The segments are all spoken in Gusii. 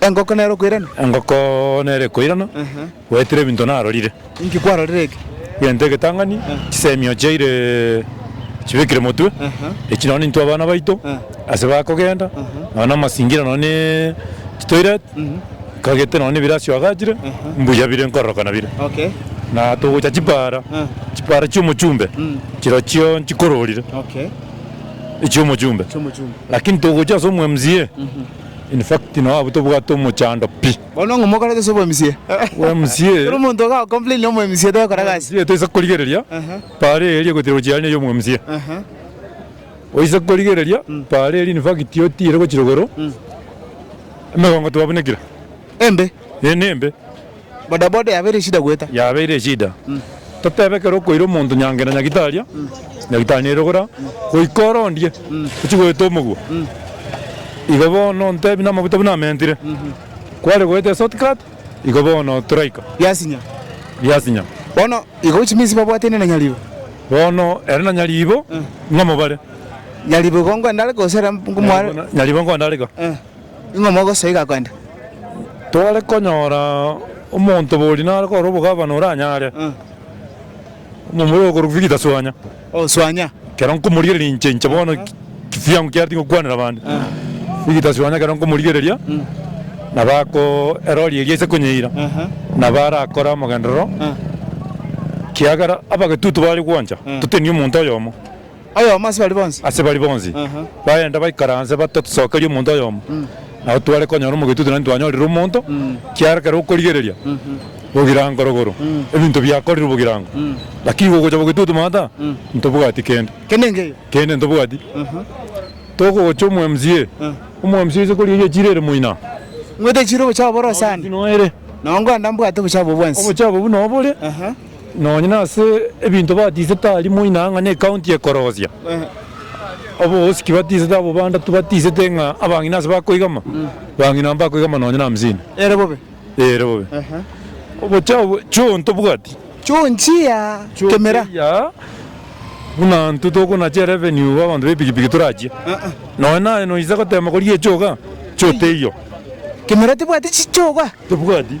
Engoko nere okoirana? Engoko nere ekoirana, goetire ebinto narorire. Inki kwarorire eke? Egento egetang'ani, chisemi oo chiaire chibekire motwe, echio nonya nintwe abana baito ase bakogenda nonya na amasingira nonya na chitoilet, kagete nonya na ebiro asio agachire, mbuya bire nkororokana bire. Na togocha chipara, chipara chi'omochumbe chirochio nchikororire, echi'omochumbe. Lakini togocha ase omwa MCA. In fact no abwo tobwate omochando pi. Bono ng'o mokorete ase obwemsie? Bwa MCA. Kera omonto oga complain na omwemsie togokora gasi. Omwemsie toise korigereria paara eria gochira gochia aria na eria omwemsie. Oise korigereria paara eria in fact otiire gochira igoro emegongo twabunekire. Embe. Ee nembe. Bodaboda yabeire eshida goeta. Yabeire eshida. Totebe ekero okoira omonto nyange na nyagitaria, nyagitari nerogora, goika orondie ochie goeta omogwa. Igo bono ontebi namaguta buna amentire. Kware goeta eshort cut, igo bono toraika. Biasinya. Biasinya. Bono igo chiminsi babwatene na nyaribo. Bono ere na nyaribo ng'amobare. Nyaribo igo ngwendare gose ere ngomware? Nyaribo ngwandareka. Ing'o mogosoa iga kogenda? Tore konyora omonto bori nare kore obogavana oranyare omomura okorwa Victor Suanya. Oh Suanya. Kero nkomorigereria inche inche bono kifiangu kiareti ngokwanera bande. Victor Suanya kero nkomorigereria nabo ako erori eria ase konyeira nabo arakore amogenderero kiagera abagetutu bare gwancha totebie omonto oyomo. Oyomo ase baria bonsi. Ase baria bonsi. Bagenda baikaranse batatusokeria omonto oyomo. Nabo tware konyora omogetwe tari twanyorire omonto, kiagera ekero okorigereria bogirango rogoro, ebinto biakorirwe bogirango. Lakini gogocha bogetwe oto mata, ntobwati kende. Kende nkeyo. Kende ntobwati. Togocha omo mca, omo mca oise korigereria echiro ere moina. Ngwete echiro obochafu bore ase ande. Nonye nkoenda mbwate obochafu obwo bwensi. Obochafu obwo nobore. Nonya nase ebinto batisete aria moina ang'ane ekaunti ekorosia obogosiki batisete abwo bandatwe batisete ng'a abang'ina ase bakoigama bang'ina amo bakoigama nonya na hamsini. Ere bobe. Ere bobe. Obochao bwe chio tobwati. Chio nchia kemera. Chio nchia buna intwe tokonache revenue ba abanto bepikipiki torachie. Nonya naye noise gotema koria echoga chio teiyo. Kemera tebwati chichoga. Tebwati.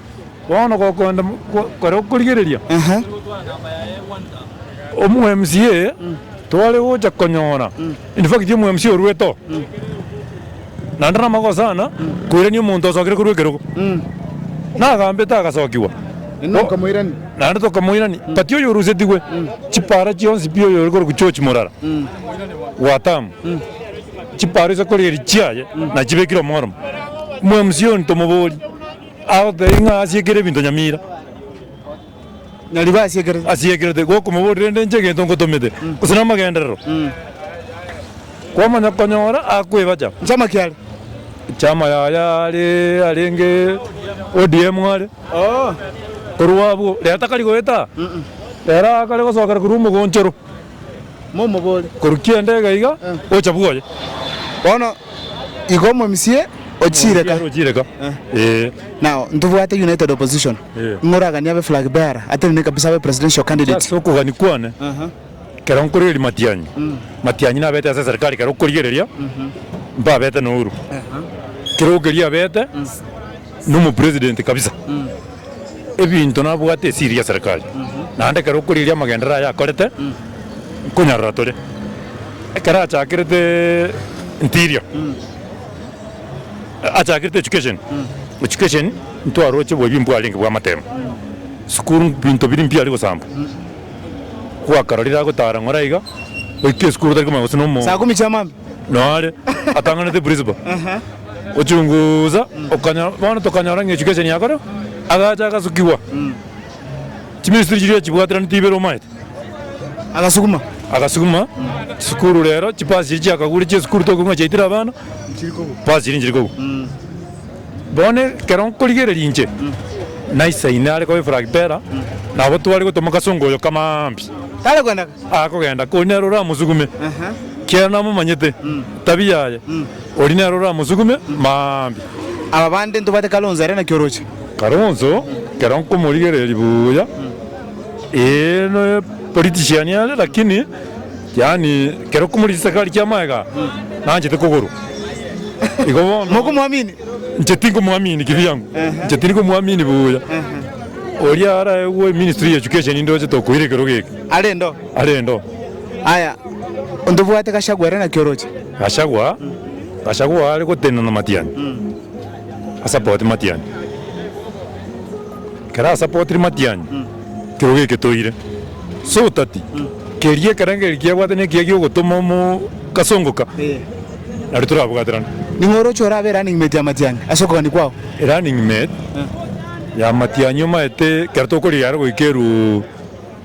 Bono gokoenda kore okorigereria omu MCA tware gocha konyora in fact omu MCA orwete oo naende namagoso sana koirania omonto osokire korwa ekerogo nagambete agasokigwa naende tokamoirania but oyo orusetigwe chipara chionsi pi oyo ore korokwa George Murara Watamu chipara ase korigereria chiaye nachibekire omworemo omu MCA oyo ntomoborie. Agotebia ng'a asiekire ebinto nyamira. Nyarigwe asiekerete. Asiekerete, gokomoboria rende inche egento ngotomete, gose namagenderero. Kwamanya konyora akwebacha. Chama kiare. Chama yaye are arenge ODM are. Korwa abwo, rero takari goeta. Rero akare gosokera korwa omogonchoro. momobore. Korwa kianda iga iga ocha bwoye. Bono igo omomusie ochireka. Omomusie ochireka. Ee. Now ntobwate united opposition. Ee. Ng'a oraganie abe flag bearer atenene kabisa abe presidential candidate. Ase okogania kwane. Aha. Kero nkorigereria matianyi. Mm. Matianyi nabete ase serikali kero okorigereria. Mm-hm. Mbabete na Uhuru. Aha. Kero okeria abete. Mm. Nomo president kabisa ebinto nabwate esiri ya serikali naende ekero okorigereria amagendereo aye akorete nkonyarora tore ekero achakerete interior achakerete education education ntwaroche bwebi mbwarenge bwamatemo sukuru mbinto biri mbiya arigosambwa gwakarorire agotara ng'ora iga oike esukuru otari komanya gose nomo nonye are atang'anete principal gochungusa, okanyora, bono tokanyora ng'a echuka eseni yakorwa, agacha agasukigwa, chimisitiri chiria chibwateranetie ibere omaete, Agasuguma. agasuguma, chisukuru rero, chipasi chiria chiakagure chia esukuru tokigwa ng'a chiaitire abana, pasi chiria nchiri kogwa. Bono ekero nkorigereria inche, naisaine are koba efragpera, nabo tware gotwa mogasongo oyo kamaa mbi, Tare kwenda. akogenda, konya nere oramosugume, kiagera namomanyete, tabia yaye. Oria nere oramosugume mambia. Aba bande ntobwate Kalonzo are naki oroche. Kalonzo kero nkomorigereria buya ee no politician are lakini yaani kero okomorisia sakari kia magega nanchete kogorwa igo bono. Mokomwamini? Inche tinkomwamini kivyangu inche tinkomwamini buya oria arae gwe ministry ya education ndoche tokoira ekero geke. Arendo? Arendo. Aya ontobwate Gachagua are naki oroche. Gachagua, Gachagua are gotenena Matiang'i asapoti Matiang'i. Ekero asapotiri Matiang'i kiro geke toire. Ase otati keria ekerengererio kiabwate ne ekiya giogotoma omo kasongoka nario torabwaterane. Ning'o oroche orabe running mate ya Matiang'i ase okogania kwao? Running mate ya Matiang'i omaete ekero tokorigia are goika eru.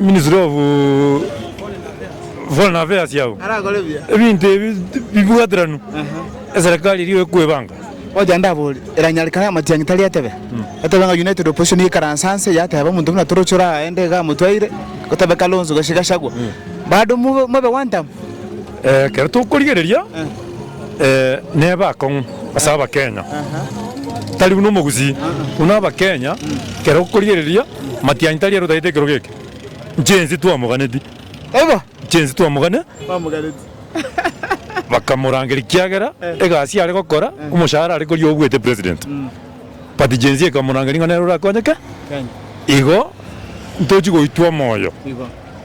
Ministry of Foreign Affairs yao ebinto ebi bibwateranu eserekari eria ekwebanga. Ocha ndabori, eranyarekane amatiangi tari etebe, etebe ng'a United Opposition yekaranse anse yateba omonto buna toroche oraende iga amotwaire, gotebe Kalonzo gose Gachagua, bado mobe one term. Ekero tokorigereria neba akong'u ase Abakenya, tari buna omogusii buna Abakenya ekero okorigereria matianyi tari ere otagete ekerogo eke inche ense twamoganeti inche ense twamogane bakamorangeria kiagera egasi are gokora omoshahara are koria obwete president but gen z ekamorangeria ng'a nere orakonye ki igo ntochi goitwa omoyo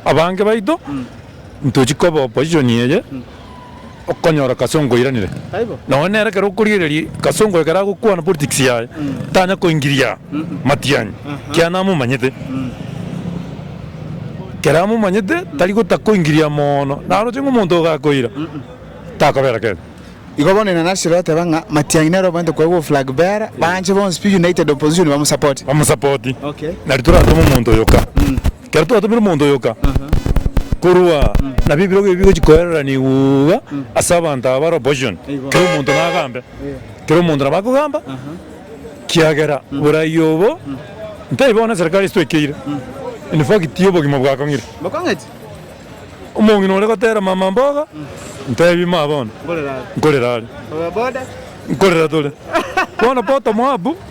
abange baito. Ntochi koba opposition eye okonyora kasongo oiranire nonye nere ekero okorigereria kasongo ekero agokwana politics yaye tanya koingiria matianyi kiana amomanyete ekero amomanyete tari gota koingiria moono naroche ng'a omonto oyo gakoira takobera kebe. Igo bono inana siro oteba ng'a matianyi nere obwenerete koegwa oflag bearer banche bonsi pi united opposition bamosapote. Bamosapote nari torasome omonto oyoka. Ekero twatomire omonto oyoka korwa aa, nabio ebirogo ebio bigochia koererana igwa ase abanto aba bare opposition, kera omonto nagambe, kera omonto nabo akogamba, kiagera borai obo ntari bono eserikari esitwekeire, in fact obogima bwakong'ire. Omong'ina ore gotera mama mboga, ntebi ma bono nkorera are, nkorera tore, bono bottom up.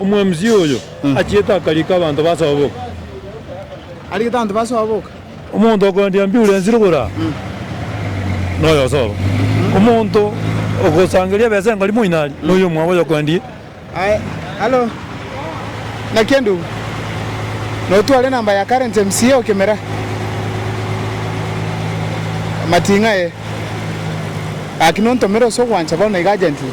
Omwamisia oyo achiete akariika abanto basoboka. Ariikete abanto basoboka. Omonto okoendia mbiu rensiri igoro aa noyosobo. Omonto ogosangeria ebesa engori moino aria noyo omwabo oyokoendia. Aye, hallo. Naki endugu. Notware enamba ya current MCA o Kimera. Mating'a ee. Gaki nontomere ase ogwancha bono iga agent ira.